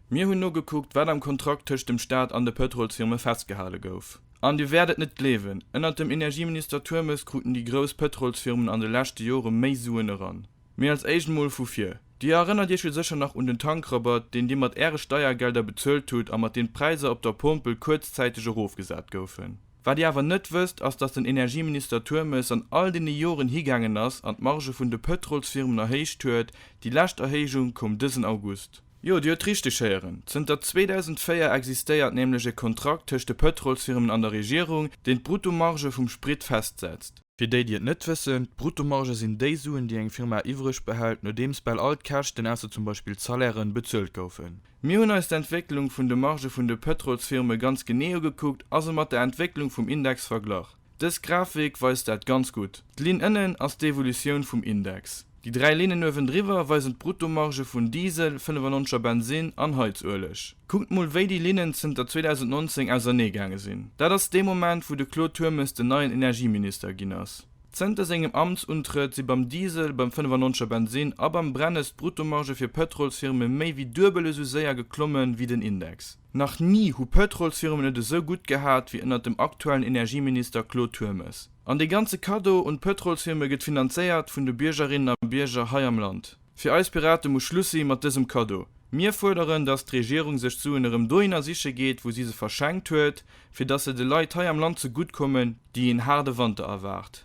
Mir hunn nogekuckt, wat am Kontrakt tëscht dem Staat an de Pëtrolsfirme festgehale gouf. An Dir wäert et net gleewen, ënnert dem Energieminister Turmes kruten déi grouss Pëtrolsfirmen an de leschte Jore méi Suen eran. Mee als Éischt mol vu vir. Dir erënnert Iech jo sécher nach un den Tankrabatt, deen Dir mat Äre Steiergelder bezuelt hutt a mat deem d'Präisser op der Pompel kuerzzäiteg erofgesat goufen. Wat Dir awer net wësst, ass, dass den Energieminister Turmes an all deene Joren higaangen ass an d'Margë vun de Pëtrolsfirmen erhéicht huet, déi lescht Erhéijung koum dësen August. Jo, Dir huet richteg héieren, zënter 2004 existéiert nämlech e Kontrakt tëscht de Pëtrolsfirmen an der Regierung, deen d'Bruttomarge vum Sprit festsetzt. Fir déi, déi et net wëssen, D'Bruttomarge sinn déi Suen, déi eng Firma iwwreg behält, nodeems bal all d'Käschten, ausser zum Beispill d'Salairen, bezuelt goufen. Mir hunn eis d'Entwécklung vun de Margë vun de Pëtrolsfirme ganz genee ugekuckt a se mat der Entwécklung vum Index verglach. Dës Grafik weist dat ganz gutt. D'Linn ënnen ass d'Evolutioun vum Index. Déi dräi Linnen uewendriwwer weisen d'Bruttomarge vun Diesel, 95 a Bensin an Heizueleg. Kuckt mol wéi déi Linnen zënter 2019 ausernee gaange sinn. Dat ass dee Moment wou de Claude Turmes den neien Energieminister ginn ass. Zënter sengem Amtsuntrëtt si beim Diesel, beim 95 a Bensin a beim Brennes d'Bruttomarge fir Pëtrolsfirme méi wéi duebel esou séier geklomme wéi den Index. Nach ni hu Pëtrolsfirmen et esou gutt gehat wéi ënnert dem aktuellen Energieminister Claude Turmes. An dee ganze Kaddo un d'Pëtrolsfirme gëtt finanzéiert vun de Biergerinnen a Bierger hei am Land. Fir eis Pirate muss Schluss si mat dësem Kaddo. Mir fuerderen, datt d'Regierung sech d'Suen erëm dohinner siche geet, wou si se verschenkt huet, fir datt se de Leit hei am Land ze gutt kommen, déi een haarde Wanter erwaart.